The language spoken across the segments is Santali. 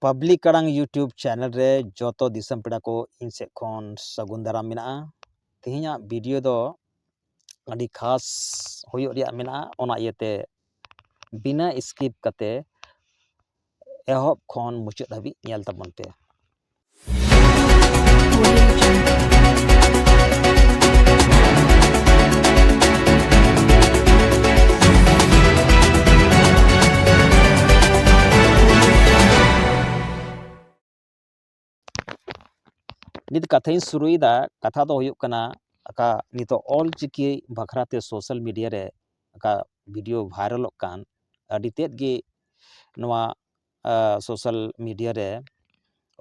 ᱯᱟᱵᱽᱞᱤᱠ ᱟᱲᱟᱝ ᱤᱭᱩᱴᱩᱵᱽ ᱪᱮᱱᱮᱞ ᱨᱮ ᱡᱚᱛᱚ ᱫᱤᱥᱚᱢ ᱯᱮᱲᱟ ᱠᱚ ᱤᱧ ᱥᱮᱫ ᱠᱷᱚᱱ ᱥᱟᱹᱜᱩᱱ ᱫᱟᱨᱟᱢ ᱢᱮᱱᱟᱜᱼᱟ ᱛᱮᱦᱮᱧᱟᱜ ᱵᱷᱤᱰᱤᱭᱳ ᱫᱚ ᱟᱹᱰᱤ ᱠᱷᱟᱥ ᱦᱩᱭᱩᱜ ᱨᱮᱭᱟᱜ ᱢᱮᱱᱟᱜᱼᱟ ᱚᱱᱟ ᱤᱭᱟᱹᱛᱮ ᱵᱤᱱᱟᱹ ᱥᱠᱤᱯ ᱠᱟᱛᱮ ᱮᱦᱚᱵ ᱠᱷᱚᱱ ᱢᱩᱪᱟᱹᱫ ᱫᱷᱟᱹᱵᱤᱡ ᱧᱮᱞ ᱛᱟᱵᱚᱱ ᱯᱮ ᱱᱤᱛ ᱠᱟᱛᱷᱟᱧ ᱥᱩᱨᱩᱭᱮᱫᱟ ᱠᱟᱛᱷᱟ ᱫᱚ ᱦᱩᱭᱩᱜ ᱠᱟᱱᱟ ᱟᱠᱟ ᱱᱤᱛᱚᱜ ᱚᱞ ᱪᱤᱠᱤ ᱵᱟᱠᱷᱨᱟ ᱛᱮ ᱥᱳᱥᱟᱞ ᱢᱤᱰᱤᱭᱟ ᱨᱮ ᱟᱠᱟ ᱵᱷᱤᱰᱤᱭᱳ ᱵᱷᱟᱭᱨᱟᱞᱚᱜ ᱠᱟᱱ ᱟᱹᱰᱤ ᱛᱮᱫ ᱜᱮ ᱱᱚᱣᱟ ᱥᱳᱥᱟᱞ ᱢᱤᱰᱤᱭᱟ ᱨᱮ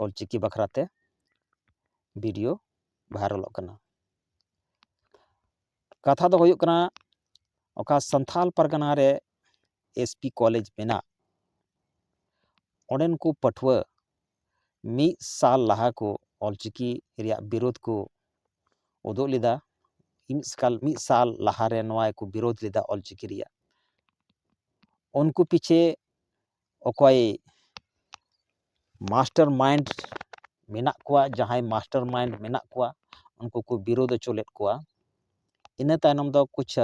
ᱚᱞᱪᱤᱠᱤ ᱵᱟᱠᱷᱨᱟ ᱛᱮ ᱵᱷᱤᱰᱤᱭᱳ ᱵᱷᱟᱭᱨᱟᱞᱚᱜ ᱠᱟᱱᱟ ᱠᱟᱛᱷᱟ ᱫᱚ ᱦᱩᱭᱩᱜ ᱠᱟᱱᱟ ᱚᱠᱟ ᱥᱟᱱᱛᱷᱟᱞ ᱯᱟᱨᱜᱟᱱᱟ ᱨᱮ ᱮᱥ ᱯᱤ ᱠᱚᱞᱮᱡᱽ ᱢᱮᱱᱟᱜ ᱚᱸᱰᱮᱱ ᱠᱚ ᱯᱟᱹᱴᱷᱩᱣᱟᱹ ᱢᱤᱫ ᱥᱟᱞ ᱞᱟᱦᱟ ᱠᱚ ᱚᱞᱪᱤᱠᱤ ᱨᱮᱭᱟᱜ ᱵᱤᱨᱳᱫᱷ ᱠᱚ ᱩᱫᱩᱜ ᱞᱮᱫᱟ ᱢᱤᱫ ᱥᱟᱞ ᱢᱤᱫ ᱥᱟᱞ ᱞᱟᱦᱟᱨᱮ ᱱᱚᱣᱟ ᱠᱚ ᱵᱤᱨᱳᱫᱷ ᱞᱮᱫᱟ ᱚᱞᱪᱤᱠᱤ ᱨᱮᱭᱟᱜ ᱩᱱᱠᱩ ᱯᱤᱪᱷᱮ ᱚᱠᱚᱭ ᱢᱟᱥᱴᱟᱨ ᱢᱟᱭᱤᱱᱰ ᱢᱮᱱᱟᱜ ᱠᱚᱣᱟ ᱡᱟᱦᱟᱸᱭ ᱢᱟᱥᱴᱟᱨ ᱢᱟᱭᱤᱱᱰ ᱢᱮᱱᱟᱜ ᱠᱚᱣᱟ ᱩᱱᱠᱩ ᱠᱚ ᱵᱤᱨᱳᱫᱷ ᱦᱚᱪᱚ ᱞᱮᱫ ᱠᱚᱣᱟ ᱤᱱᱟᱹ ᱛᱟᱭᱱᱚᱢ ᱫᱚ ᱠᱩᱪᱷ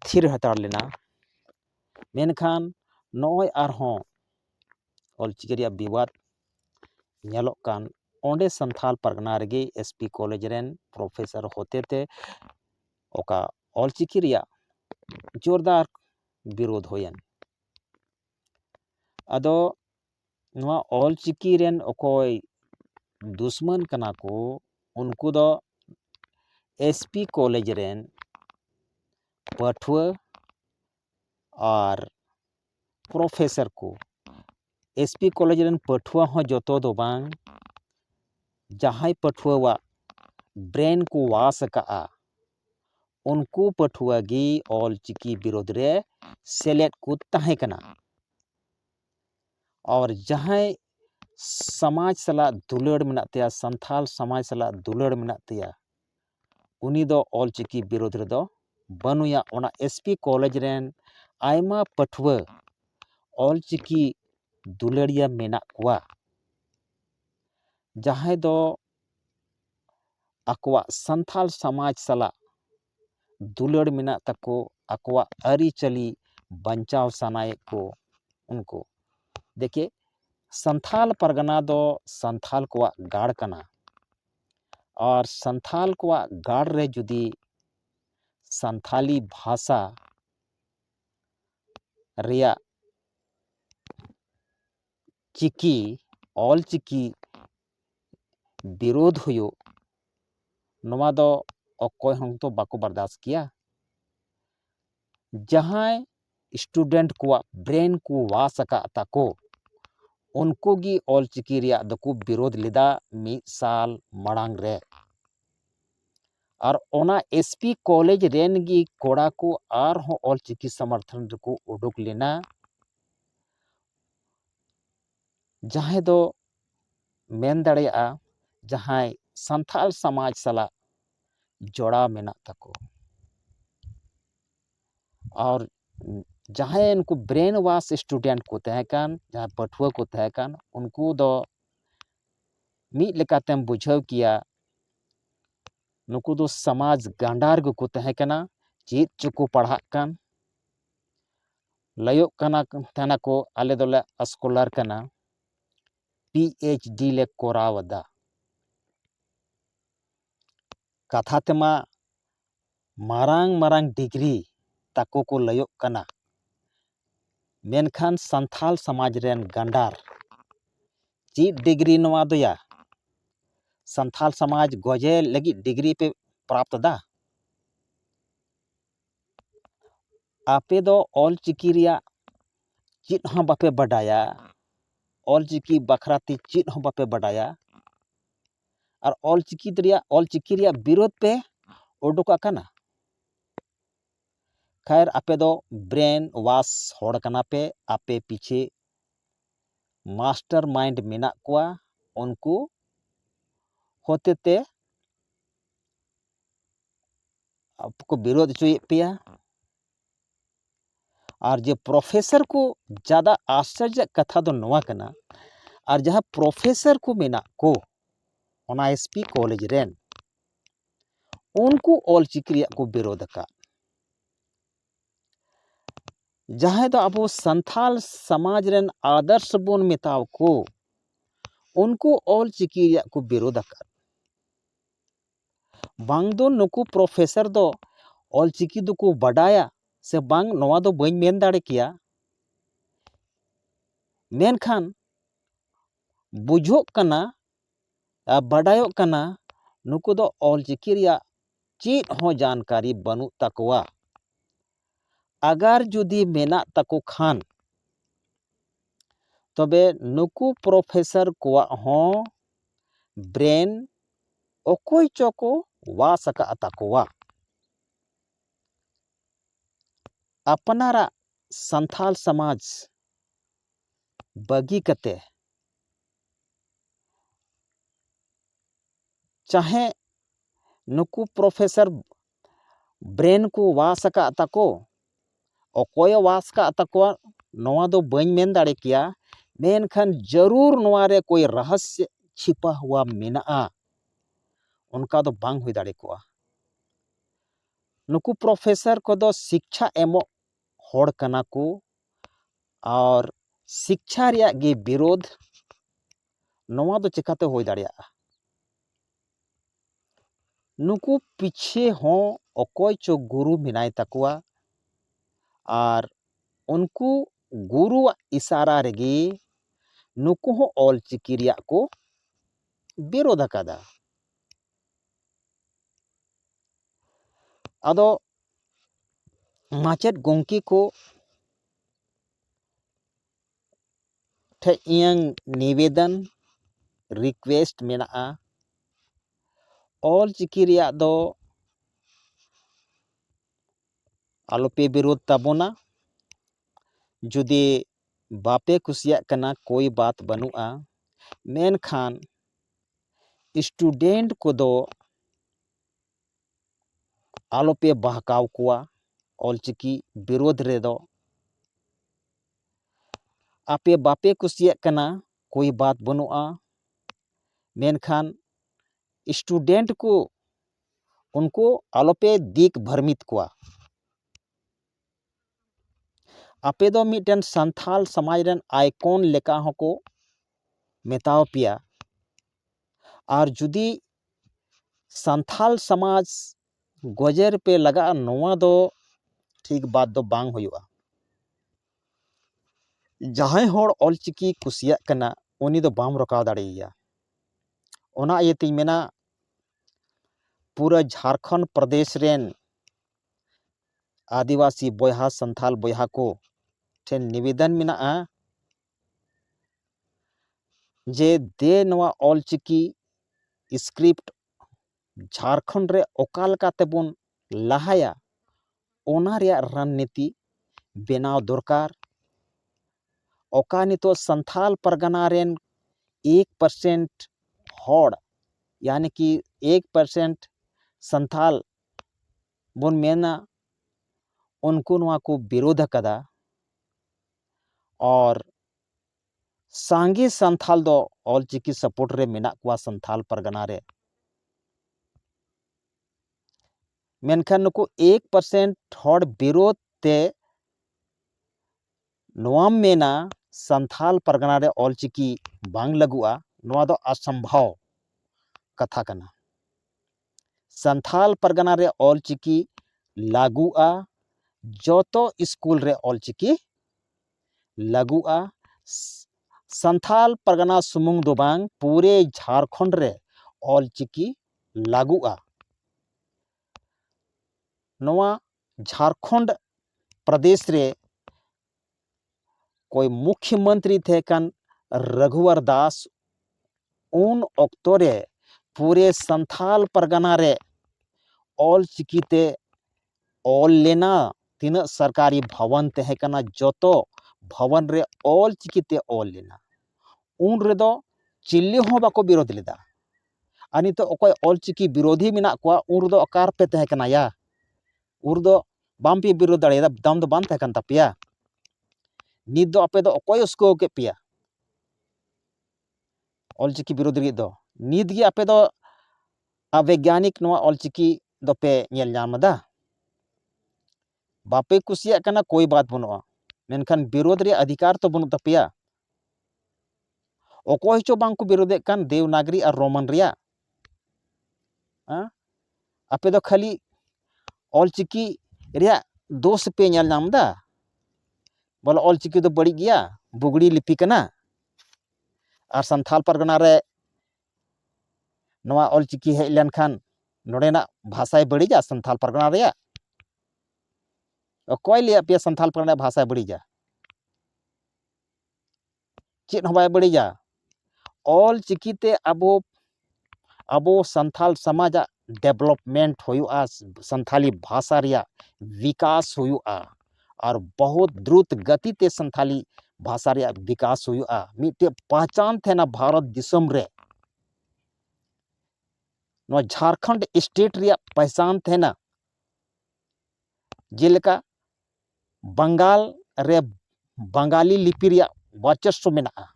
ᱛᱷᱤᱨ ᱦᱟᱛᱟᱲ ᱞᱮᱱᱟ ᱢᱮᱱᱠᱷᱟᱱ ᱱᱚᱜᱼᱚᱭ ᱟᱨᱦᱚᱸ ᱚᱞ ᱪᱤᱠᱤ ᱨᱮᱭᱟᱜ ᱵᱤᱵᱟᱫ ᱧᱮᱞᱚᱜ ᱠᱟᱱ ᱚᱸᱰᱮ ᱥᱟᱱᱛᱷᱟᱞ ᱯᱟᱨᱜᱟᱱᱟ ᱨᱮᱜᱮ ᱮᱥ ᱯᱤ ᱠᱚᱞᱮᱡᱽ ᱨᱮᱱ ᱯᱨᱚᱯᱷᱮᱥᱟᱨ ᱦᱚᱛᱮᱛᱮ ᱚᱠᱟ ᱚᱞ ᱪᱤᱠᱤ ᱨᱮᱭᱟᱜ ᱡᱳᱨᱫᱟᱨ ᱵᱤᱨᱳᱫᱷ ᱦᱩᱭᱮᱱ ᱟᱫᱚ ᱱᱚᱣᱟ ᱚᱞ ᱪᱤᱠᱤ ᱨᱮᱱ ᱚᱠᱚᱭ ᱫᱩᱥᱢᱟᱹᱱ ᱠᱟᱱᱟ ᱠᱚ ᱩᱱᱠᱩ ᱫᱚ ᱮᱥ ᱯᱤ ᱠᱚᱞᱮᱡᱽ ᱨᱮᱱ ᱯᱟᱹᱴᱷᱩᱣᱟᱹ ᱟᱨ ᱯᱨᱚᱯᱷᱮᱥᱟᱨ ᱠᱚ ᱮᱥ ᱯᱤ ᱠᱚᱞᱮᱡᱽ ᱨᱮᱱ ᱯᱟᱹᱴᱷᱩᱣᱟᱹ ᱦᱚᱸ ᱡᱚᱛᱚ ᱫᱚ ᱵᱟᱝ ᱡᱟᱦᱟᱸᱭ ᱯᱟᱹᱴᱷᱩᱣᱟᱹᱣᱟᱜ ᱵᱨᱮᱱ ᱠᱚ ᱳᱣᱟᱥ ᱟᱠᱟᱫᱼᱟ ᱩᱱᱠᱩ ᱯᱟᱹᱴᱷᱩᱣᱟᱹ ᱜᱮ ᱚᱞ ᱪᱤᱠᱤ ᱵᱤᱨᱩᱫᱽ ᱨᱮ ᱥᱮᱞᱮᱫ ᱠᱚ ᱛᱟᱦᱮᱸ ᱠᱟᱱᱟ ᱟᱨ ᱡᱟᱦᱟᱸᱭ ᱥᱚᱢᱟᱡᱽ ᱥᱟᱞᱟᱜ ᱫᱩᱞᱟᱹᱲ ᱢᱮᱱᱟᱜ ᱛᱟᱭᱟ ᱥᱟᱱᱛᱟᱲ ᱥᱚᱢᱟᱡᱽ ᱥᱟᱞᱟᱜ ᱫᱩᱞᱟᱹᱲ ᱢᱮᱱᱟᱜ ᱛᱟᱭᱟ ᱩᱱᱤ ᱫᱚ ᱚᱞ ᱪᱤᱠᱤ ᱵᱤᱨᱩᱫᱷ ᱨᱮᱫᱚ ᱵᱟᱹᱱᱩᱭᱟ ᱚᱱᱟ ᱮᱥ ᱯᱤ ᱠᱚᱞᱮᱡᱽ ᱨᱮᱱ ᱟᱭᱢᱟ ᱯᱟᱹᱴᱷᱩᱣᱟᱹ ᱚᱞ ᱪᱤᱠᱤ ᱫᱩᱞᱟᱹᱲᱤᱭᱟᱹ ᱢᱮᱱᱟᱜ ᱠᱚᱣᱟ ᱡᱟᱦᱟᱸᱭ ᱫᱚ ᱟᱠᱚᱣᱟᱜ ᱥᱟᱱᱛᱟᱲ ᱥᱚᱢᱟᱡᱽ ᱥᱟᱞᱟᱜ ᱫᱩᱞᱟᱹᱲ ᱢᱮᱱᱟᱜ ᱛᱟᱠᱚ ᱟᱠᱚᱣᱟᱜ ᱟᱹᱨᱤᱪᱟᱹᱞᱤ ᱵᱟᱧᱪᱟᱣ ᱥᱟᱱᱟᱭᱮᱫ ᱠᱚ ᱩᱱᱠᱩ ᱫᱮᱠᱷᱤᱭᱮ ᱥᱟᱱᱛᱟᱲ ᱯᱟᱨᱜᱟᱱᱟ ᱫᱚ ᱥᱟᱱᱛᱟᱲ ᱠᱚᱣᱟᱜ ᱜᱟᱲ ᱠᱟᱱᱟ ᱟᱨ ᱥᱟᱱᱛᱷᱟᱞ ᱠᱚᱣᱟᱜ ᱜᱟᱲ ᱨᱮ ᱡᱩᱫᱤ ᱥᱟᱱᱛᱷᱟᱞᱤ ᱵᱷᱟᱥᱟ ᱨᱮᱭᱟᱜ ᱪᱤᱠᱤ ᱚᱞ ᱪᱤᱠᱤ ᱵᱤᱨᱳᱫᱷ ᱦᱩᱭᱩᱜ ᱱᱚᱣᱟ ᱫᱚ ᱚᱠᱚᱭ ᱦᱚᱸ ᱛᱚ ᱵᱟᱠᱚ ᱵᱟᱨᱫᱟᱥ ᱠᱮᱭᱟ ᱡᱟᱦᱟᱸᱭ ᱤᱥᱴᱩᱰᱮᱱᱴ ᱠᱚᱣᱟᱜ ᱵᱨᱮᱱ ᱠᱚ ᱳᱣᱟᱥ ᱟᱠᱟᱫ ᱛᱟᱠᱚ ᱩᱱᱠᱩ ᱜᱮ ᱚᱞ ᱪᱤᱠᱤ ᱨᱮᱭᱟᱜ ᱫᱚᱠᱚ ᱵᱤᱨᱳᱫᱷ ᱞᱮᱫᱟ ᱢᱤᱫ ᱥᱟᱞ ᱢᱟᱲᱟᱝ ᱨᱮ ᱟᱨ ᱚᱱᱟ ᱮᱥ ᱯᱤ ᱠᱚᱞᱮᱡᱽ ᱨᱮᱱ ᱜᱮ ᱠᱚᱲᱟ ᱠᱚ ᱟᱨᱦᱚᱸ ᱚᱞ ᱪᱤᱠᱤ ᱥᱚᱢᱚᱨᱛᱷᱚᱱ ᱨᱮᱠᱚ ᱩᱰᱩᱠ ᱞᱮᱱᱟ ᱡᱟᱦᱟᱸᱭ ᱫᱚ ᱢᱮᱱ ᱫᱟᱲᱮᱭᱟᱜᱼᱟ ᱡᱟᱦᱟᱸᱭ ᱥᱟᱱᱛᱟᱲ ᱥᱚᱢᱟᱡᱽ ᱥᱟᱞᱟᱜ ᱡᱚᱲᱟᱣ ᱢᱮᱱᱟᱜ ᱛᱟᱠᱚ ᱟᱨ ᱡᱟᱦᱟᱸᱭ ᱩᱱᱠᱩ ᱵᱨᱮᱱ ᱚᱣᱟᱥ ᱥᱴᱩᱰᱮᱱᱴ ᱠᱚ ᱛᱟᱦᱮᱸ ᱠᱟᱱ ᱡᱟᱦᱟᱸ ᱯᱟᱹᱴᱷᱩᱣᱟᱹ ᱠᱚ ᱛᱟᱦᱮᱸ ᱠᱟᱱ ᱩᱱᱠᱩ ᱫᱚ ᱢᱤᱫ ᱞᱮᱠᱟᱛᱮᱢ ᱵᱩᱡᱷᱟᱹᱣ ᱠᱮᱭᱟ ᱱᱩᱠᱩ ᱫᱚ ᱥᱚᱢᱟᱡᱽ ᱜᱟᱸᱰᱟᱨ ᱜᱮᱠᱚ ᱛᱟᱦᱮᱸ ᱠᱟᱱᱟ ᱪᱮᱫ ᱪᱚᱠᱚ ᱯᱟᱲᱦᱟᱜ ᱠᱟᱱ ᱞᱟᱹᱭᱚᱜ ᱠᱟᱱᱟ ᱛᱟᱦᱮᱱᱟ ᱠᱚ ᱟᱞᱮ ᱫᱚᱞᱮ ᱥᱠᱚᱞᱟᱨ ᱠᱟᱱᱟ ᱯᱤ ᱮᱭᱤᱪ ᱰᱤ ᱞᱮ ᱠᱚᱨᱟᱣ ᱮᱫᱟ ᱠᱟᱛᱷᱟ ᱛᱮᱢᱟ ᱢᱟᱨᱟᱝ ᱢᱟᱨᱟᱝ ᱰᱤᱜᱽᱨᱤ ᱛᱟᱠᱚ ᱠᱚ ᱞᱟᱹᱭᱚᱜ ᱠᱟᱱᱟ ᱢᱮᱱᱠᱷᱟᱱ ᱥᱟᱱᱛᱟᱲ ᱥᱚᱢᱟᱡᱽ ᱨᱮᱱ ᱜᱟᱸᱰᱟᱨ ᱪᱮᱫ ᱰᱤᱜᱽᱨᱤ ᱱᱚᱣᱟ ᱫᱚᱭᱟ ᱥᱟᱱᱛᱟᱲ ᱥᱚᱢᱟᱡᱽ ᱜᱚᱡᱮ ᱞᱟᱹᱜᱤᱫ ᱰᱤᱜᱽᱨᱤ ᱯᱮ ᱯᱨᱟᱯᱛ ᱮᱫᱟ ᱟᱯᱮ ᱫᱚ ᱚᱞ ᱪᱤᱠᱤ ᱨᱮᱭᱟᱜ ᱪᱮᱫ ᱦᱚᱸ ᱵᱟᱯᱮ ᱵᱟᱰᱟᱭᱟ ᱚᱞ ᱪᱤᱠᱤ ᱵᱟᱠᱷᱨᱟ ᱛᱮ ᱪᱮᱫ ᱦᱚᱸ ᱵᱟᱯᱮ ᱵᱟᱰᱟᱭᱟ ᱟᱨ ᱚᱞ ᱪᱤᱠᱤ ᱨᱮᱭᱟᱜ ᱚᱞ ᱪᱤᱠᱤ ᱨᱮᱭᱟᱜ ᱵᱤᱨᱳᱫᱷ ᱯᱮ ᱩᱰᱩᱠᱟᱜ ᱠᱟᱱᱟ ᱠᱷᱟᱭᱨ ᱟᱯᱮ ᱫᱚ ᱵᱨᱮᱱ ᱚᱣᱟᱥ ᱦᱚᱲ ᱠᱟᱱᱟ ᱯᱮ ᱟᱯᱮ ᱯᱤᱪᱷᱮ ᱢᱟᱥᱴᱟᱨ ᱢᱟᱭᱤᱱᱰ ᱢᱮᱱᱟᱜ ᱠᱚᱣᱟ ᱩᱱᱠᱩ ᱦᱚᱛᱮᱛᱮ ᱟᱯᱮ ᱠᱚ ᱵᱤᱨᱳᱫᱷ ᱦᱚᱪᱚᱭᱮᱫ ᱯᱮᱭᱟ ᱟᱨ ᱡᱮ ᱯᱨᱚᱯᱷᱮᱥᱟᱨ ᱠᱚ ᱡᱟᱫᱟ ᱟᱥᱪᱚᱨᱡᱚ ᱨᱮᱭᱟᱜ ᱠᱟᱛᱷᱟ ᱫᱚ ᱱᱚᱣᱟ ᱠᱟᱱᱟ ᱟᱨ ᱡᱟᱦᱟᱸ ᱯᱨᱚᱯᱷᱮᱥᱟᱨ ᱠᱚ ᱢᱮᱱᱟᱜ ᱠᱚ ᱚᱱᱟ ᱮᱥ ᱯᱤ ᱠᱚᱞᱮᱡᱽ ᱨᱮᱱ ᱩᱱᱠᱩ ᱚᱞ ᱪᱤᱠᱤ ᱨᱮᱭᱟᱜ ᱠᱚ ᱵᱤᱨᱳᱫᱷ ᱟᱠᱟᱫ ᱡᱟᱦᱟᱸᱭ ᱫᱚ ᱟᱵᱚ ᱥᱟᱱᱛᱟᱲ ᱥᱚᱢᱟᱡᱽ ᱨᱮᱱ ᱟᱫᱚᱨᱥ ᱵᱚᱱ ᱢᱮᱛᱟᱣᱟᱠᱚ ᱩᱱᱠᱩ ᱚᱞ ᱪᱤᱠᱤ ᱨᱮᱭᱟᱜ ᱠᱚ ᱵᱤᱨᱳᱫᱷ ᱟᱠᱟᱫ ᱵᱟᱝ ᱫᱚ ᱱᱩᱠᱩ ᱯᱨᱚᱯᱷᱮᱥᱚᱨ ᱫᱚ ᱚᱞ ᱪᱤᱠᱤ ᱫᱚᱠᱚ ᱵᱟᱰᱟᱭᱟ ᱥᱮ ᱵᱟᱝ ᱱᱚᱣᱟ ᱫᱚ ᱵᱟᱹᱧ ᱢᱮᱱ ᱫᱟᱲᱮ ᱠᱮᱭᱟ ᱢᱮᱱᱠᱷᱟᱱ ᱵᱩᱡᱷᱟᱹᱜ ᱠᱟᱱᱟ ᱟᱨ ᱵᱟᱰᱟᱭᱚᱜ ᱠᱟᱱᱟ ᱱᱩᱠᱩ ᱫᱚ ᱚᱞ ᱪᱤᱠᱤ ᱨᱮᱭᱟᱜ ᱪᱮᱫ ᱦᱚᱸ ᱡᱟᱱᱠᱟᱨᱤ ᱵᱟᱹᱱᱩᱜ ᱛᱟᱠᱚᱣᱟ ᱟᱜᱟᱨ ᱡᱩᱫᱤ ᱢᱮᱱᱟᱜ ᱛᱟᱠᱚ ᱠᱷᱟᱱ ᱛᱚᱵᱮ ᱱᱩᱠᱩ ᱯᱨᱚᱯᱷᱮᱥᱚᱨ ᱠᱚᱣᱟᱜ ᱦᱚᱸ ᱵᱨᱮᱱ ᱚᱠᱚᱭ ᱪᱚᱠᱚ ᱣᱟᱥ ᱟᱠᱟᱫ ᱛᱟᱠᱚᱣᱟ ᱟᱯᱱᱟᱨᱟᱜ ᱥᱟᱱᱛᱷᱟᱞ ᱥᱚᱢᱟᱡᱽ ᱵᱟᱹᱜᱤ ᱠᱟᱛᱮ ᱪᱟᱦᱮ ᱱᱩᱠᱩ ᱯᱨᱚᱯᱷᱮᱥᱚᱨ ᱵᱨᱮᱱ ᱠᱚ ᱣᱟᱥ ᱟᱠᱟᱫ ᱛᱟᱠᱚ ᱚᱠᱚᱭᱮ ᱣᱟᱥ ᱟᱠᱟᱫ ᱛᱟᱠᱚᱣᱟ ᱱᱚᱣᱟ ᱫᱚ ᱵᱟᱹᱧ ᱢᱮᱱ ᱫᱟᱲᱮ ᱠᱮᱭᱟ ᱢᱮᱱᱠᱷᱟᱱ ᱡᱟᱹᱨᱩᱲ ᱱᱚᱣᱟ ᱨᱮ ᱠᱳᱭ ᱨᱚᱦᱚᱥᱭᱚ ᱪᱷᱤᱯᱟ ᱦᱩᱣᱟ ᱢᱮᱱᱟᱜᱼᱟ ᱚᱱᱠᱟ ᱫᱚ ᱵᱟᱝ ᱦᱩᱭ ᱫᱟᱲᱮ ᱠᱚᱜᱼᱟ ᱱᱩᱠᱩ ᱯᱨᱚᱯᱷᱮᱥᱚᱨ ᱠᱚᱫᱚ ᱥᱤᱠᱪᱷᱟ ᱮᱢᱚᱜ ᱦᱚᱲ ᱠᱟᱱᱟ ᱠᱚ ᱟᱨ ᱥᱤᱠᱪᱷᱟ ᱨᱮᱭᱟᱜ ᱜᱮ ᱵᱤᱨᱳᱫᱷ ᱱᱚᱣᱟ ᱫᱚ ᱪᱤᱠᱟᱹᱛᱮ ᱦᱩᱭ ᱫᱟᱲᱮᱭᱟᱜᱼᱟ ᱱᱩᱠᱩ ᱯᱤᱪᱷᱮ ᱦᱚᱸ ᱚᱠᱚᱭ ᱪᱚ ᱜᱩᱨᱩ ᱢᱮᱱᱟᱭ ᱛᱟᱠᱚᱣᱟ ᱟᱨ ᱩᱱᱠᱩ ᱜᱩᱨᱩᱣᱟᱜ ᱤᱥᱟᱨᱟ ᱨᱮᱜᱮ ᱱᱩᱠᱩ ᱦᱚᱸ ᱚᱞ ᱪᱤᱠᱤ ᱨᱮᱭᱟᱜ ᱠᱚ ᱵᱤᱨᱳᱫᱷ ᱟᱠᱟᱫᱟ ᱟᱫᱚ ᱢᱟᱪᱮᱫ ᱜᱚᱝᱠᱮ ᱠᱚ ᱴᱷᱮᱱ ᱤᱧᱟᱹᱝ ᱱᱤᱵᱮᱫᱚᱱ ᱨᱤᱠᱩᱭᱮᱥᱴ ᱢᱮᱱᱟᱜᱼᱟ ᱚᱞ ᱪᱤᱠᱤ ᱨᱮᱭᱟᱜ ᱫᱚ ᱟᱞᱚ ᱯᱮ ᱵᱤᱨᱳᱫᱷ ᱛᱟᱵᱚᱱᱟ ᱡᱩᱫᱤ ᱵᱟᱯᱮ ᱠᱩᱥᱤᱭᱟᱜ ᱠᱟᱱᱟ ᱠᱳᱭ ᱵᱟᱛ ᱵᱟᱹᱱᱩᱜᱼᱟ ᱢᱮᱱᱠᱷᱟᱱ ᱥᱴᱩᱰᱮᱱᱴ ᱠᱚᱫᱚ ᱟᱞᱚᱯᱮ ᱵᱟᱦᱠᱟᱣ ᱠᱚᱣᱟ ᱚᱞᱪᱤᱠᱤ ᱵᱤᱨᱳᱫᱷ ᱨᱮᱫᱚ ᱟᱯᱮ ᱵᱟᱯᱮ ᱠᱩᱥᱤᱭᱟᱜ ᱠᱟᱱᱟ ᱠᱳᱭ ᱵᱟᱛ ᱵᱟᱹᱱᱩᱜᱼᱟ ᱢᱮᱱᱠᱷᱟᱱ ᱥᱴᱩᱰᱮᱱᱴ ᱠᱚ ᱩᱱᱠᱩ ᱟᱞᱚᱯᱮ ᱫᱤᱠ ᱵᱷᱨᱢᱤᱛ ᱠᱚᱣᱟ ᱟᱯᱮ ᱫᱚ ᱢᱤᱫᱴᱮᱱ ᱥᱟᱱᱛᱷᱟᱞ ᱥᱚᱢᱟᱡᱽ ᱨᱮᱱ ᱟᱭᱠᱚᱱ ᱞᱮᱠᱟ ᱦᱚᱸᱠᱚ ᱢᱮᱛᱟᱣᱟᱯᱮᱭᱟ ᱟᱨ ᱡᱩᱫᱤ ᱥᱟᱱᱛᱟᱲ ᱥᱚᱢᱟᱡᱽ ᱜᱚᱡᱮ ᱨᱮᱯᱮ ᱞᱟᱜᱟᱜᱼᱟ ᱱᱚᱣᱟ ᱫᱚ ᱴᱷᱤᱠ ᱵᱟᱫᱽ ᱫᱚ ᱵᱟᱝ ᱦᱩᱭᱩᱜᱼᱟ ᱡᱟᱦᱟᱸᱭ ᱦᱚᱲ ᱚᱞ ᱪᱤᱠᱤᱭ ᱠᱩᱥᱤᱭᱟᱜ ᱠᱟᱱᱟ ᱩᱱᱤ ᱫᱚ ᱵᱟᱢ ᱨᱚᱠᱟᱣ ᱫᱟᱲᱮᱭᱟᱭᱟ ᱚᱱᱟ ᱤᱭᱟᱹᱛᱤᱧ ᱢᱮᱱᱟ ᱯᱩᱨᱟᱹ ᱡᱷᱟᱲᱠᱷᱚᱸᱰ ᱯᱨᱚᱫᱮᱥ ᱨᱮᱱ ᱟᱹᱫᱤᱵᱟᱹᱥᱤ ᱵᱚᱭᱦᱟ ᱥᱟᱱᱛᱟᱲ ᱵᱚᱭᱦᱟ ᱠᱚ ᱴᱷᱮᱱ ᱱᱤᱵᱮᱫᱚᱱ ᱢᱮᱱᱟᱜᱼᱟ ᱡᱮ ᱫᱮ ᱱᱚᱣᱟ ᱚᱞ ᱪᱤᱠᱤ ᱤᱥᱠᱨᱤᱯᱴ ᱡᱷᱟᱨᱠᱷᱚᱸᱰ ᱨᱮ ᱚᱠᱟ ᱞᱮᱠᱟ ᱛᱮᱵᱚᱱ ᱞᱟᱦᱟᱭᱟ ᱚᱱᱟ ᱨᱮᱭᱟᱜ ᱨᱟᱱᱱᱤᱛᱤ ᱵᱮᱱᱟᱣ ᱫᱚᱨᱠᱟᱨ ᱚᱠᱟ ᱱᱤᱛᱳᱜ ᱥᱟᱱᱛᱷᱟᱞ ᱯᱟᱨᱜᱟᱱᱟ ᱨᱮᱱ ᱮᱠ ᱯᱟᱨᱥᱮᱱᱴ ᱦᱚᱲ ᱭᱟᱱᱤ ᱠᱤ ᱮᱠ ᱯᱟᱨᱥᱮᱱᱴ ᱥᱟᱱᱛᱷᱟᱞ ᱵᱚᱱ ᱢᱮᱱᱟ ᱩᱱᱠᱩ ᱱᱚᱣᱟ ᱠᱚ ᱵᱤᱨᱳᱫᱷ ᱟᱠᱟᱫᱟ ᱟᱨ ᱥᱟᱸᱜᱮ ᱥᱟᱱᱛᱷᱟᱞ ᱫᱚ ᱚᱞ ᱪᱤᱠᱤ ᱥᱟᱯᱳᱨᱴ ᱨᱮ ᱢᱮᱱᱟᱜ ᱠᱚᱣᱟ ᱥᱟᱱᱛᱷᱟᱞ ᱯᱟᱨᱜᱟᱱᱟ ᱨᱮ ᱢᱮᱱᱠᱷᱟᱱ ᱱᱩᱠᱩ ᱮᱠ ᱯᱟᱨᱥᱮᱱᱴ ᱦᱚᱲ ᱵᱤᱨᱳᱫᱷ ᱛᱮ ᱱᱚᱣᱟᱢ ᱢᱮᱱᱟ ᱥᱟᱱᱛᱷᱟᱞ ᱯᱟᱨᱜᱟᱱᱟ ᱨᱮ ᱚᱞ ᱪᱤᱠᱤ ᱵᱟᱝ ᱞᱟᱹᱜᱩᱜᱼᱟ ᱱᱚᱣᱟ ᱫᱚ ᱟᱥᱚᱢᱵᱷᱚᱣ ᱠᱟᱛᱷᱟ ᱠᱟᱱᱟ ᱥᱟᱱᱛᱷᱟᱞ ᱯᱟᱨᱜᱟᱱᱟ ᱨᱮ ᱚᱞ ᱪᱤᱠᱤ ᱞᱟᱹᱜᱩᱜᱼᱟ ᱡᱚᱛᱚ ᱤᱥᱠᱩᱞ ᱨᱮ ᱚᱞ ᱪᱤᱠᱤ ᱞᱟᱹᱜᱩᱜᱼᱟ ᱥᱟᱱᱛᱷᱟᱞ ᱯᱟᱨᱜᱟᱱᱟ ᱥᱩᱢᱩᱝ ᱫᱚ ᱵᱟᱝ ᱯᱩᱨᱟᱹ ᱡᱷᱟᱲᱠᱷᱚᱸᱰ ᱨᱮ ᱚᱞ ᱪᱤᱠᱤ ᱞᱟᱹᱜᱩᱜᱼᱟ ᱱᱚᱣᱟ ᱡᱷᱟᱲᱠᱷᱚᱸᱰ ᱯᱨᱚᱫᱮᱥ ᱨᱮ ᱚᱠᱚᱭ ᱢᱩᱠᱷᱭᱚ ᱢᱚᱱᱛᱨᱤ ᱛᱟᱦᱮᱸ ᱠᱟᱱ ᱨᱟᱹᱜᱷᱩᱣᱟᱨ ᱫᱟᱥ ᱩᱱ ᱚᱠᱛᱚ ᱨᱮ ᱯᱩᱨᱮ ᱥᱟᱱᱛᱷᱟᱞ ᱯᱟᱨᱜᱟᱱᱟ ᱨᱮ ᱚᱞ ᱪᱤᱠᱤ ᱛᱮ ᱚᱞ ᱞᱮᱱᱟ ᱛᱤᱱᱟᱹᱜ ᱥᱚᱨᱠᱟᱨᱤ ᱵᱷᱚᱵᱚᱱ ᱛᱟᱦᱮᱸ ᱠᱟᱱᱟ ᱡᱚᱛᱚ ᱵᱷᱚᱵᱚᱱ ᱨᱮ ᱚᱞ ᱪᱤᱠᱤ ᱛᱮ ᱚᱞ ᱞᱮᱱᱟ ᱩᱱ ᱨᱮᱫᱚ ᱪᱤᱞᱤ ᱦᱚᱸ ᱵᱟᱠᱚ ᱵᱤᱨᱳᱫᱷ ᱞᱮᱫᱟ ᱟᱨ ᱱᱤᱛᱳᱜ ᱚᱠᱚᱭ ᱚᱞ ᱪᱤᱠᱤ ᱵᱤᱨᱳᱫᱷᱤ ᱢᱮᱱᱟᱜ ᱠᱚᱣᱟ ᱩᱱ ᱨᱮᱫᱚ ᱚᱠᱟ ᱨᱮᱯᱮ ᱛᱟᱦᱮᱸ ᱠᱟᱱᱟ ᱭᱟ ᱩᱱ ᱨᱮᱫᱚ ᱵᱟᱝ ᱯᱮ ᱵᱤᱨᱳᱫᱷ ᱫᱟᱲᱮᱭᱟᱫᱟ ᱫᱚᱢ ᱫᱚ ᱵᱟᱝ ᱛᱟᱦᱮᱸ ᱠᱟᱱ ᱛᱟᱯᱮᱭᱟ ᱱᱤᱛ ᱫᱚ ᱟᱯᱮ ᱫᱚ ᱚᱠᱚᱭ ᱩᱥᱠᱟᱹᱣ ᱠᱮᱫ ᱯᱮᱭᱟ ᱚᱞ ᱪᱤᱠᱤ ᱵᱤᱨᱳᱫᱷ ᱞᱟᱹᱜᱤᱫ ᱫᱚ ᱱᱤᱛ ᱜᱮ ᱟᱯᱮ ᱫᱚ ᱟᱵᱮᱜᱽᱜᱟᱱᱤᱠ ᱱᱚᱣᱟ ᱚᱞ ᱪᱤᱠᱤ ᱫᱚᱯᱮ ᱧᱮᱞ ᱧᱟᱢ ᱮᱫᱟ ᱵᱟᱯᱮ ᱠᱩᱥᱤᱭᱟᱜ ᱠᱟᱱᱟ ᱠᱳᱭ ᱵᱟᱛ ᱵᱟᱹᱱᱩᱜᱼᱟ ᱢᱮᱱᱠᱷᱟᱱ ᱵᱤᱨᱳᱫᱷ ᱨᱮᱭᱟᱜ ᱚᱫᱷᱤᱠᱟᱨ ᱛᱚ ᱵᱟᱹᱱᱩᱜ ᱛᱟᱯᱮᱭᱟ ᱚᱠᱚᱭ ᱦᱚᱸᱪᱚ ᱵᱟᱝᱠᱚ ᱵᱤᱨᱳᱫᱮᱫ ᱠᱟᱱ ᱫᱮᱵᱽᱱᱟᱜᱚᱨᱤ ᱟᱨ ᱨᱳᱢᱟᱱ ᱨᱮᱭᱟᱜ ᱦᱮᱸ ᱟᱯᱮ ᱫᱚ ᱠᱷᱟᱹᱞᱤ ᱚᱞ ᱪᱤᱠᱤ ᱨᱮᱭᱟᱜ ᱫᱳᱥ ᱯᱮ ᱧᱮᱞ ᱧᱟᱢᱫᱟ ᱵᱚᱞᱮ ᱚᱞ ᱪᱤᱠᱤ ᱫᱚ ᱵᱟᱹᱲᱤᱡ ᱜᱮᱭᱟ ᱵᱩᱜᱽᱲᱤ ᱞᱤᱯᱤ ᱠᱟᱱᱟ ᱟᱨ ᱥᱟᱱᱛᱷᱟᱞ ᱯᱟᱨᱜᱟᱱᱟ ᱨᱮ ᱱᱚᱣᱟ ᱚᱞ ᱪᱤᱠᱤ ᱦᱮᱡ ᱞᱮᱱᱠᱷᱟᱱ ᱱᱚᱰᱮᱱᱟᱜ ᱵᱷᱟᱥᱟᱭ ᱵᱟᱹᱲᱤᱡᱟ ᱥᱟᱱᱛᱷᱟᱞ ᱯᱟᱨᱜᱟᱱᱟ ᱨᱮᱭᱟᱜ ᱚᱠᱚᱭ ᱞᱟᱹᱭᱟᱫ ᱯᱮᱭᱟ ᱥᱟᱱᱛᱷᱟᱞ ᱯᱟᱨᱜᱟᱱᱟ ᱨᱮᱭᱟᱜ ᱵᱷᱟᱥᱟᱭ ᱵᱟᱹᱲᱤᱡᱟ ᱪᱮᱫ ᱦᱚᱸ ᱵᱟᱭ ᱵᱟᱹᱲᱤᱡᱟ ᱚᱞ ᱪᱤᱠᱤ ᱛᱮ ᱟᱵᱚ ᱟᱵᱚ ᱥᱟᱱᱛᱟᱲ ᱥᱚᱢᱟᱡᱟᱜ ᱰᱮᱵᱞᱚᱯᱢᱮᱱᱴ ᱦᱩᱭᱩᱜᱼᱟ ᱥᱟᱱᱛᱟᱲᱤ ᱵᱷᱟᱥᱟ ᱨᱮᱭᱟᱜ ᱵᱤᱠᱟᱥ ᱦᱩᱭᱩᱜᱼᱟ ᱟᱨ ᱵᱚᱦᱩᱛ ᱫᱨᱩᱛ ᱜᱟᱛᱤ ᱛᱮ ᱥᱟᱱᱛᱟᱲᱤ ᱵᱷᱟᱥᱟ ᱨᱮᱭᱟᱜ ᱵᱤᱠᱟᱥ ᱦᱩᱭᱩᱜᱼᱟ ᱢᱤᱫᱴᱮᱱ ᱯᱟᱦᱪᱟᱱ ᱛᱟᱦᱮᱱᱟ ᱵᱷᱟᱨᱚᱛ ᱫᱤᱥᱚᱢ ᱨᱮ ᱱᱚᱣᱟ ᱡᱷᱟᱲᱠᱷᱚᱸᱰ ᱥᱴᱮᱴ ᱨᱮᱭᱟᱜ ᱯᱮᱦᱪᱟᱱ ᱛᱟᱦᱮᱱᱟ ᱡᱮᱞᱮᱠᱟ ᱵᱟᱝᱜᱟᱞ ᱨᱮ ᱵᱟᱝᱜᱟᱞᱤ ᱞᱤᱯᱤ ᱨᱮᱭᱟᱜ ᱵᱚᱨᱪᱚᱥᱥᱚ ᱢᱮᱱᱟᱜᱼᱟ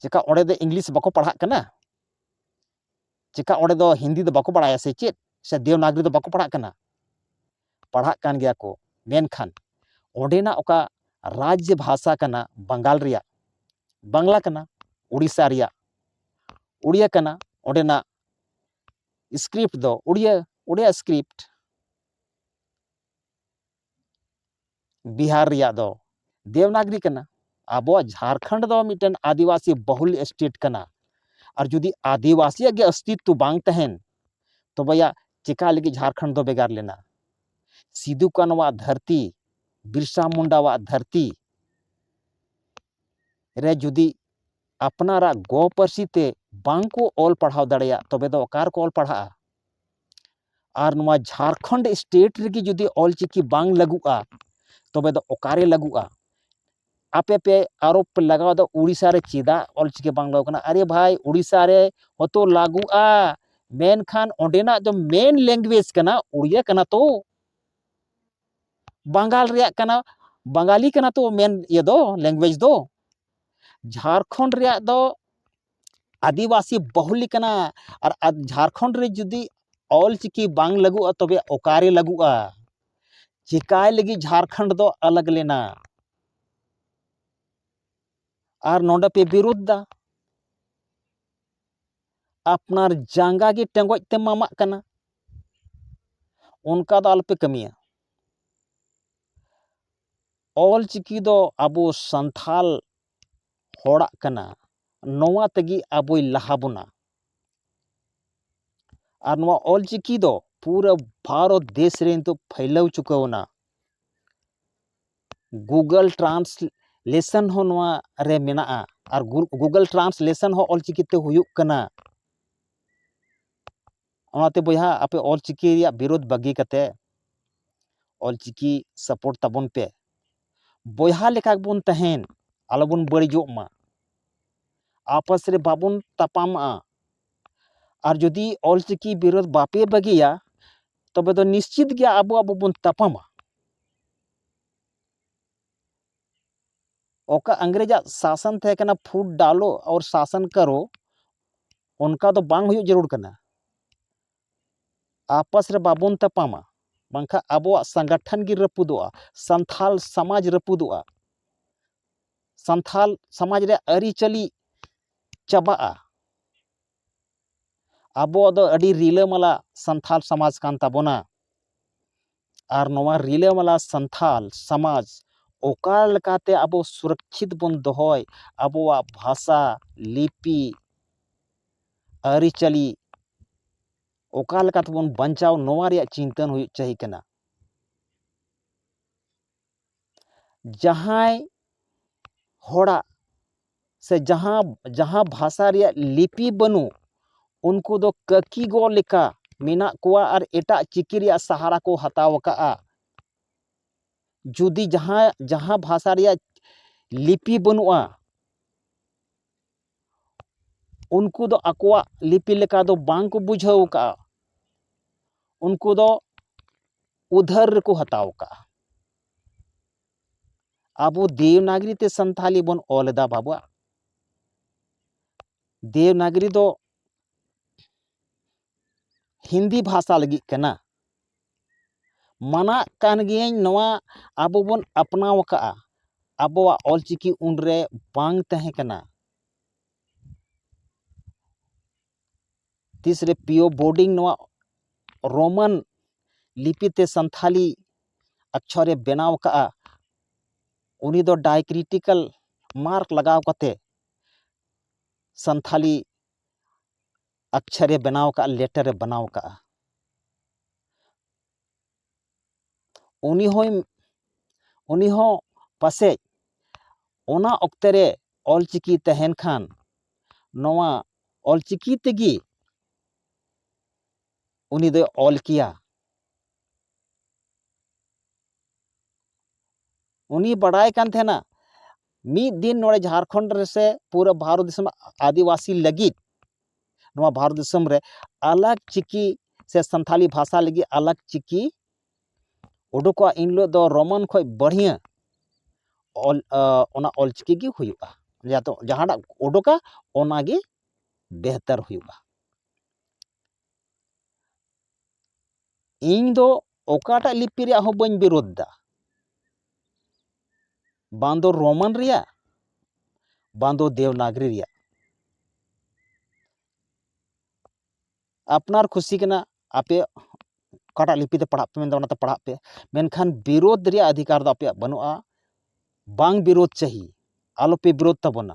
ᱪᱮᱠᱟ ᱚᱸᱰᱮ ᱫᱚ ᱤᱝᱞᱤᱥ ᱵᱟᱠᱚ ᱯᱟᱲᱦᱟᱜ ᱠᱟᱱᱟ ᱪᱮᱠᱟ ᱚᱸᱰᱮ ᱫᱚ ᱦᱤᱱᱫᱤ ᱫᱚ ᱵᱟᱠᱚ ᱵᱟᱲᱟᱭᱟ ᱥᱮ ᱪᱮᱫ ᱥᱮ ᱫᱮᱣᱱᱟᱜᱽᱨᱤ ᱫᱚ ᱵᱟᱠᱚ ᱯᱟᱲᱦᱟᱜ ᱠᱟᱱᱟ ᱯᱟᱲᱦᱟᱜ ᱠᱟᱱ ᱜᱮᱭᱟ ᱠᱚ ᱢᱮᱱᱠᱷᱟᱱ ᱚᱸᱰᱮᱱᱟᱜ ᱚᱠᱟ ᱨᱟᱡᱽ ᱵᱷᱟᱥᱟ ᱠᱟᱱᱟ ᱵᱟᱝᱜᱟᱞ ᱨᱮᱭᱟᱜ ᱵᱟᱝᱞᱟ ᱠᱟᱱᱟ ᱩᱲᱤᱥᱥᱟ ᱨᱮᱭᱟᱜ ᱩᱲᱤᱭᱟ ᱠᱟᱱᱟ ᱚᱸᱰᱮᱱᱟᱜ ᱥᱠᱨᱤᱯᱴ ᱫᱚ ᱩᱲᱤᱭᱟ ᱩᱲᱤᱭᱟ ᱥᱠᱨᱤᱯᱴ ᱵᱤᱦᱟᱨ ᱨᱮᱭᱟᱜ ᱫᱚ ᱫᱮᱣᱱᱟᱜᱽᱨᱤ ᱠᱟᱱᱟ ᱟᱵᱚᱣᱟᱜ ᱡᱷᱟᱨᱠᱷᱚᱸᱰ ᱫᱚ ᱢᱤᱫᱴᱮᱱ ᱟᱹᱫᱤᱵᱟᱹᱥᱤ ᱵᱟᱹᱦᱩᱞ ᱥᱴᱮᱴ ᱠᱟᱱᱟ ᱟᱨ ᱡᱩᱫᱤ ᱟᱹᱫᱤᱵᱟᱹᱥᱤᱭᱟᱜ ᱜᱮ ᱚᱥᱛᱤᱛᱛᱚ ᱵᱟᱝ ᱛᱟᱦᱮᱱ ᱛᱚᱵᱮᱭᱟ ᱪᱮᱠᱟ ᱞᱟᱹᱜᱤᱫ ᱡᱷᱟᱨᱠᱷᱚᱸᱰ ᱫᱚ ᱵᱷᱮᱜᱟᱨ ᱞᱮᱱᱟ ᱥᱤᱫᱩ ᱠᱟᱹᱱᱩᱣᱟᱜ ᱫᱷᱟᱹᱨᱛᱤ ᱵᱤᱨᱥᱟ ᱢᱩᱱᱰᱟᱣᱟᱜ ᱫᱷᱟᱹᱨᱛᱤ ᱨᱮ ᱡᱩᱫᱤ ᱟᱯᱱᱟᱨᱟᱜ ᱜᱚ ᱯᱟᱹᱨᱥᱤ ᱛᱮ ᱵᱟᱝ ᱠᱚ ᱚᱞ ᱯᱟᱲᱦᱟᱣ ᱫᱟᱲᱮᱭᱟᱜ ᱛᱚᱵᱮ ᱫᱚ ᱚᱠᱟ ᱨᱮᱠᱚ ᱚᱞ ᱯᱟᱲᱦᱟᱜᱼᱟ ᱟᱨ ᱱᱚᱣᱟ ᱡᱷᱟᱲᱠᱷᱚᱸᱰ ᱥᱴᱮᱴ ᱨᱮᱜᱮ ᱡᱩᱫᱤ ᱚᱞ ᱪᱤᱠᱤ ᱵᱟᱝ ᱞᱟᱹᱜᱩᱜᱼᱟ ᱛᱚᱵᱮ ᱫᱚ ᱚᱠᱟᱨᱮ ᱞᱟᱹᱜᱩᱜᱼᱟ ᱟᱯᱮ ᱯᱮ ᱟᱨᱳᱯ ᱯᱮ ᱞᱟᱜᱟᱣᱫᱟ ᱳᱰᱤᱥᱟ ᱨᱮ ᱪᱮᱫᱟᱜ ᱚᱞ ᱪᱤᱠᱤ ᱵᱟᱝ ᱞᱟᱹᱜᱩᱜ ᱠᱟᱱᱟ ᱟᱨᱮ ᱵᱷᱟᱭ ᱳᱰᱤᱥᱟ ᱨᱮ ᱦᱚᱭᱛᱳ ᱞᱟᱹᱜᱩᱜᱼᱟ ᱢᱮᱱᱠᱷᱟᱱ ᱚᱸᱰᱮᱱᱟᱜ ᱫᱚ ᱢᱮᱱ ᱞᱮᱝᱜᱩᱭᱮᱡᱽ ᱠᱟᱱᱟ ᱳᱰᱤᱭᱟ ᱠᱟᱱᱟ ᱛᱚ ᱵᱟᱝᱜᱟᱞ ᱨᱮᱭᱟᱜ ᱠᱟᱱᱟ ᱵᱟᱝᱜᱟᱞᱤ ᱠᱟᱱᱟ ᱛᱚ ᱢᱮᱱ ᱤᱭᱟᱹ ᱫᱚ ᱞᱮᱝᱜᱩᱭᱮᱡᱽ ᱫᱚ ᱡᱷᱟᱲᱠᱷᱚᱸᱰ ᱨᱮᱭᱟᱜ ᱫᱚ ᱟᱹᱫᱤᱵᱟᱹᱥᱤ ᱵᱟᱹᱦᱩᱞᱤ ᱠᱟᱱᱟ ᱟᱨ ᱡᱷᱟᱲᱠᱷᱚᱸᱰ ᱨᱮ ᱡᱩᱫᱤ ᱚᱞ ᱪᱤᱠᱤ ᱵᱟᱝ ᱞᱟᱹᱜᱩᱜᱼᱟ ᱛᱚᱵᱮ ᱚᱠᱟᱨᱮ ᱞᱟᱹᱜᱩᱜᱼᱟ ᱪᱤᱠᱟᱹᱭ ᱞᱟᱹᱜᱤᱫ ᱡᱷᱟᱲᱠᱷᱚᱸᱰ ᱫᱚ ᱟᱞᱟᱜᱽ ᱞᱮᱱᱟ ᱟᱨ ᱱᱚᱸᱰᱮ ᱯᱮ ᱵᱤᱨᱩᱫᱽᱫᱟ ᱟᱯᱱᱟᱨ ᱡᱟᱸᱜᱟ ᱜᱮ ᱴᱮᱸᱜᱚᱡ ᱛᱮ ᱢᱟᱢᱟᱜ ᱠᱟᱱᱟ ᱚᱱᱠᱟ ᱫᱚ ᱟᱞᱚᱯᱮ ᱠᱟᱹᱢᱤᱭᱟ ᱚᱞ ᱪᱤᱠᱤ ᱫᱚ ᱟᱵᱚ ᱥᱟᱱᱛᱷᱟᱞ ᱦᱚᱲᱟᱜ ᱠᱟᱱᱟ ᱱᱚᱣᱟ ᱛᱮᱜᱮ ᱟᱵᱚᱭ ᱞᱟᱦᱟ ᱵᱚᱱᱟ ᱟᱨ ᱱᱚᱣᱟ ᱚᱞᱪᱤᱠᱤ ᱫᱚ ᱯᱩᱨᱟᱹ ᱵᱷᱟᱨᱚᱛ ᱫᱮᱥ ᱨᱮ ᱱᱤᱛᱳᱜ ᱯᱷᱟᱹᱭᱞᱟᱹᱣ ᱪᱩᱠᱟᱹᱣᱮᱱᱟ ᱜᱩᱜᱚᱞ ᱴᱨᱟᱱᱥᱞᱮᱥᱚᱱ ᱦᱚᱸ ᱱᱚᱣᱟ ᱨᱮ ᱢᱮᱱᱟᱜᱼᱟ ᱟᱨ ᱜᱩᱜᱚᱞ ᱴᱨᱟᱱᱥᱞᱮᱥᱚᱱ ᱦᱚᱸ ᱚᱞᱪᱤᱠᱤ ᱛᱮ ᱦᱩᱭᱩᱜ ᱠᱟᱱᱟ ᱚᱱᱟᱛᱮ ᱵᱚᱭᱦᱟ ᱟᱯᱮ ᱚᱞ ᱪᱤᱠᱤ ᱨᱮᱭᱟᱜ ᱵᱤᱨᱳᱫᱷ ᱵᱟᱹᱜᱤ ᱠᱟᱛᱮ ᱚᱞ ᱪᱤᱠᱤ ᱥᱟᱯᱳᱨᱴ ᱛᱟᱵᱚᱱ ᱯᱮ ᱵᱚᱭᱦᱟ ᱞᱮᱠᱟ ᱜᱮᱵᱚᱱ ᱛᱟᱦᱮᱱ ᱟᱞᱚᱵᱚᱱ ᱵᱟᱹᱲᱤᱡᱚᱜ ᱢᱟ ᱟᱯᱟᱥ ᱨᱮ ᱵᱟᱵᱚᱱ ᱛᱟᱯᱟᱢᱟᱜᱼᱟ ᱟᱨ ᱡᱩᱫᱤ ᱚᱞ ᱪᱤᱠᱤ ᱵᱤᱨᱳᱫᱷ ᱵᱟᱯᱮ ᱵᱟᱹᱜᱤᱭᱟ ᱛᱚᱵᱮ ᱫᱚ ᱱᱤᱥᱪᱤᱛ ᱜᱮ ᱟᱵᱚ ᱟᱵᱚ ᱵᱚᱱ ᱛᱟᱯᱟᱢᱟ ᱚᱠᱟ ᱤᱝᱨᱮᱡᱟᱜ ᱥᱟᱥᱚᱱ ᱛᱟᱦᱮᱸ ᱠᱟᱱᱟ ᱯᱷᱩᱴ ᱰᱟᱞᱳ ᱚᱨ ᱥᱟᱥᱚᱱ ᱠᱟᱨᱳ ᱚᱱᱠᱟ ᱫᱚ ᱵᱟᱝ ᱦᱩᱭᱩᱜ ᱡᱟᱹᱨᱩᱲ ᱠᱟᱱᱟ ᱟᱯᱟᱥ ᱨᱮ ᱵᱟᱵᱚᱱ ᱛᱟᱯᱟᱢᱟ ᱵᱟᱝᱠᱷᱟᱱ ᱟᱵᱚᱣᱟᱜ ᱥᱚᱝᱜᱚᱴᱷᱚᱱ ᱜᱮ ᱨᱟᱹᱯᱩᱫᱚᱜᱼᱟ ᱥᱟᱱᱛᱟᱲ ᱥᱚᱢᱟᱡᱽ ᱨᱟᱹᱯᱩᱫᱚᱜᱼᱟ ᱥᱟᱱᱛᱟᱲ ᱥᱚᱢᱟᱡᱽ ᱨᱮᱭᱟᱜ ᱟᱹᱨᱤᱪᱟᱹᱞᱤ ᱪᱟᱵᱟᱜᱼᱟ ᱟᱵᱚᱣᱟᱜ ᱫᱚ ᱟᱹᱰᱤ ᱨᱤᱞᱟᱹᱢᱟᱞᱟ ᱥᱟᱱᱛᱟᱲ ᱥᱚᱢᱟᱡᱽ ᱠᱟᱱ ᱛᱟᱵᱚᱱᱟ ᱟᱨ ᱱᱚᱣᱟ ᱨᱤᱞᱟᱹᱢᱟᱞᱟ ᱥᱟᱱᱛᱟᱲ ᱥᱚᱢᱟᱡᱽ ᱚᱠᱟ ᱞᱮᱠᱟᱛᱮ ᱟᱵᱚ ᱥᱩᱨᱚᱠᱪᱷᱤᱛ ᱵᱚᱱ ᱫᱚᱦᱚᱭ ᱟᱵᱚᱣᱟᱜ ᱵᱷᱟᱥᱟ ᱞᱤᱯᱤ ᱟᱹᱨᱤᱪᱟᱹᱞᱤ ᱚᱠᱟ ᱞᱮᱠᱟᱛᱮᱵᱚᱱ ᱵᱟᱧᱪᱟᱣ ᱱᱚᱣᱟ ᱨᱮᱭᱟᱜ ᱪᱤᱱᱛᱟᱹ ᱦᱩᱭᱩᱜ ᱪᱟᱹᱦᱤ ᱠᱟᱱᱟ ᱡᱟᱦᱟᱸᱭ ᱦᱚᱲᱟᱜ ᱥᱮ ᱡᱟᱦᱟᱸ ᱡᱟᱦᱟᱸ ᱵᱷᱟᱥᱟ ᱨᱮᱭᱟᱜ ᱞᱤᱯᱤ ᱵᱟᱹᱱᱩᱜ ᱩᱱᱠᱩ ᱫᱚ ᱠᱟᱹᱠᱤ ᱜᱚ ᱞᱮᱠᱟ ᱢᱮᱱᱟᱜ ᱠᱚᱣᱟ ᱟᱨ ᱮᱴᱟᱜ ᱪᱤᱠᱤ ᱨᱮᱭᱟᱜ ᱥᱟᱦᱟᱨᱟ ᱠᱚ ᱦᱟᱛᱟᱣ ᱟᱠᱟᱫᱼᱟ ᱡᱩᱫᱤ ᱡᱟᱦᱟᱸ ᱡᱟᱦᱟᱸ ᱵᱷᱟᱥᱟ ᱨᱮᱭᱟᱜ ᱞᱤᱯᱤ ᱵᱟᱹᱱᱩᱜᱼᱟ ᱩᱱᱠᱩ ᱫᱚ ᱟᱠᱚᱣᱟᱜ ᱞᱤᱯᱤ ᱞᱮᱠᱟ ᱫᱚ ᱵᱟᱝ ᱠᱚ ᱵᱩᱡᱷᱟᱹᱣ ᱠᱟᱜᱼᱟ ᱩᱱᱠᱩ ᱫᱚ ᱩᱫᱷᱟᱹᱨ ᱨᱮᱠᱚ ᱦᱟᱛᱟᱣ ᱠᱟᱜᱼᱟ ᱟᱵᱚ ᱫᱮᱵᱽᱱᱟᱜᱚᱨᱤ ᱛᱮ ᱥᱟᱱᱛᱷᱟᱞᱤ ᱵᱚᱱ ᱚᱞᱮᱫᱟ ᱵᱟᱵᱟ ᱫᱮᱵᱽᱱᱟᱜᱚᱨᱤ ᱫᱚ ᱦᱤᱱᱫᱤ ᱵᱷᱟᱥᱟ ᱞᱟᱹᱜᱤᱫ ᱠᱟᱱᱟ ᱢᱟᱱᱟᱜ ᱠᱟᱱ ᱜᱤᱭᱟᱹᱧ ᱱᱚᱣᱟ ᱟᱵᱚ ᱵᱚᱱ ᱟᱯᱱᱟᱣ ᱟᱠᱟᱫᱼᱟ ᱟᱵᱚᱣᱟᱜ ᱚᱞ ᱪᱤᱠᱤ ᱩᱱ ᱨᱮ ᱵᱟᱝ ᱛᱟᱦᱮᱸ ᱠᱟᱱᱟ ᱛᱤᱥ ᱨᱮ ᱯᱤ ᱳ ᱵᱳᱰᱤᱝ ᱱᱚᱣᱟ ᱨᱳᱢᱟᱱ ᱞᱤᱯᱤ ᱛᱮ ᱥᱟᱱᱛᱷᱟᱞᱤ ᱟᱠᱪᱷᱚᱨᱮ ᱵᱮᱱᱟᱣ ᱟᱠᱟᱫᱼᱟ ᱩᱱᱤ ᱫᱚ ᱰᱟᱭᱠᱨᱤᱴᱤᱠᱟᱞ ᱢᱟᱨᱠ ᱞᱟᱜᱟᱣ ᱠᱟᱛᱮ ᱥᱟᱱᱛᱷᱟᱞᱤ ᱟᱠᱪᱷᱟᱨᱮ ᱵᱮᱱᱟᱣ ᱟᱠᱟᱫᱼᱟ ᱞᱮᱴᱟᱨᱮ ᱵᱮᱱᱟᱣ ᱟᱠᱟᱫᱼᱟ ᱩᱱᱤ ᱦᱚᱸᱭ ᱩᱱᱤ ᱦᱚᱸ ᱯᱟᱥᱮᱡ ᱚᱱᱟ ᱚᱠᱛᱮ ᱨᱮ ᱚᱞ ᱪᱤᱠᱤ ᱛᱟᱦᱮᱱ ᱠᱷᱟᱱ ᱱᱚᱣᱟ ᱚᱞ ᱪᱤᱠᱤ ᱛᱮᱜᱮ ᱩᱱᱤ ᱫᱚᱭ ᱚᱞ ᱠᱮᱭᱟ ᱩᱱᱤ ᱵᱟᱰᱟᱭ ᱠᱟᱱ ᱛᱟᱦᱮᱱᱟ ᱢᱤᱫ ᱫᱤᱱ ᱱᱚᱰᱮ ᱡᱷᱟᱲᱠᱷᱚᱸᱰ ᱨᱮᱥᱮ ᱯᱩᱨᱟᱹ ᱵᱷᱟᱨᱚᱛ ᱫᱤᱥᱚᱢ ᱟᱹᱫᱤᱵᱟᱹᱥᱤ ᱞᱟᱹᱜᱤᱫ ᱱᱚᱣᱟ ᱵᱷᱟᱨᱚᱛ ᱫᱤᱥᱚᱢ ᱨᱮ ᱟᱞᱟᱜᱽ ᱪᱤᱠᱤ ᱥᱮ ᱥᱟᱱᱛᱷᱟᱞᱤ ᱵᱷᱟᱥᱟ ᱞᱟᱹᱜᱤᱫ ᱟᱞᱟᱜᱽ ᱪᱤᱠᱤ ᱩᱰᱩᱠᱚᱜᱼᱟ ᱤᱱ ᱦᱤᱞᱳᱜ ᱫᱚ ᱨᱳᱢᱟᱱ ᱠᱷᱚᱱ ᱵᱟᱹᱲᱦᱤᱭᱟᱹ ᱚᱞ ᱚᱱᱟ ᱚᱞ ᱪᱤᱠᱤ ᱜᱮ ᱦᱩᱭᱩᱜᱼᱟ ᱡᱟᱦᱟᱸᱴᱟᱜ ᱩᱰᱩᱠᱟ ᱚᱱᱟᱜᱮ ᱵᱮᱦᱛᱟᱨ ᱦᱩᱭᱩᱜᱼᱟ ᱤᱧ ᱫᱚ ᱚᱠᱟᱴᱟᱜ ᱞᱤᱯᱤ ᱨᱮᱭᱟᱜ ᱦᱚᱸ ᱵᱟᱹᱧ ᱵᱤᱨᱳᱫᱷ ᱮᱫᱟ ᱵᱟᱝ ᱫᱚ ᱨᱳᱢᱟᱱ ᱨᱮᱭᱟᱜ ᱵᱟᱝ ᱫᱚ ᱫᱮᱵᱽᱱᱟᱜᱚᱨᱤ ᱨᱮᱭᱟᱜ ᱟᱯᱱᱟᱨ ᱠᱷᱩᱥᱤ ᱠᱟᱱᱟ ᱟᱯᱮ ᱚᱠᱟᱴᱟᱜ ᱞᱤᱯᱤ ᱛᱮ ᱯᱟᱲᱦᱟᱜ ᱯᱮ ᱢᱮᱱᱫᱟ ᱚᱱᱟᱛᱮ ᱯᱟᱲᱦᱟᱜ ᱯᱮ ᱢᱮᱱᱠᱷᱟᱱ ᱵᱤᱨᱳᱫᱷ ᱨᱮᱭᱟᱜ ᱚᱫᱷᱤᱠᱟᱨ ᱫᱚ ᱟᱯᱮᱭᱟᱜ ᱵᱟᱹᱱᱩᱜᱼᱟ ᱵᱟᱝ ᱵᱤᱨᱳᱫᱷ ᱪᱟᱹᱦᱤ ᱟᱞᱚᱯᱮ ᱵᱤᱨᱳᱫᱷ ᱛᱟᱵᱚᱱᱟ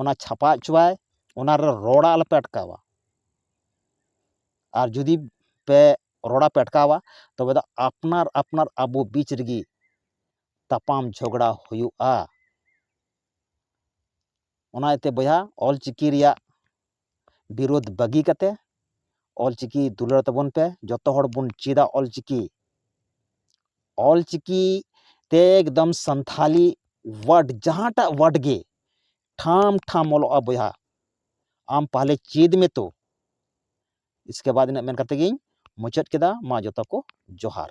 ᱚᱱᱟ ᱪᱷᱟᱯᱟ ᱦᱚᱪᱚᱣᱟᱭ ᱚᱱᱟᱨᱮ ᱨᱚᱲ ᱟᱞᱚᱯᱮ ᱟᱴᱠᱟᱣᱟ ᱟᱨ ᱡᱩᱫᱤ ᱯᱮ ᱨᱚᱲ ᱟᱯᱮ ᱟᱴᱠᱟᱣᱟ ᱛᱚᱵᱮ ᱫᱚ ᱟᱯᱱᱟᱨ ᱟᱯᱱᱟᱨ ᱟᱵᱚ ᱵᱤᱪ ᱨᱮᱜᱮ ᱛᱟᱯᱟᱢ ᱡᱷᱚᱜᱽᱲᱟ ᱦᱩᱭᱩᱜᱼᱟ ᱚᱱᱟ ᱤᱭᱟᱹᱛᱮ ᱵᱚᱭᱦᱟ ᱚᱞᱪᱤᱠᱤ ᱨᱮᱭᱟᱜ ᱵᱤᱨᱳᱫᱷ ᱵᱟᱹᱜᱤ ᱠᱟᱛᱮ ᱚᱞᱪᱤᱠᱤ ᱫᱩᱞᱟᱹᱲ ᱛᱟᱵᱚᱱ ᱯᱮ ᱡᱚᱛᱚ ᱦᱚᱲ ᱵᱚᱱ ᱪᱮᱫᱟ ᱚᱞᱪᱤᱠᱤ ᱚᱞᱪᱤᱠᱤ ᱛᱮ ᱮᱠᱫᱚᱢ ᱥᱟᱱᱛᱷᱟᱞᱤ ᱳᱣᱟᱨᱰ ᱡᱟᱦᱟᱸᱴᱟᱜ ᱳᱣᱟᱨᱰ ᱜᱮ ᱴᱷᱟᱢ ᱴᱷᱟᱢ ᱚᱞᱚᱜᱼᱟ ᱵᱚᱭᱦᱟ ᱟᱢ ᱯᱟᱦᱞᱮ ᱪᱮᱫ ᱢᱮ ᱛᱚ ᱤᱥᱠᱮ ᱵᱟᱫ ᱤᱱᱟᱹᱜ ᱢᱮᱱ ᱠᱟᱛᱮ ᱜᱤᱧ ᱢᱩᱪᱟᱹᱫ ᱠᱮᱫᱟ ᱢᱟ ᱡᱚᱛᱚ ᱠᱚ ᱡᱚᱦᱟᱨ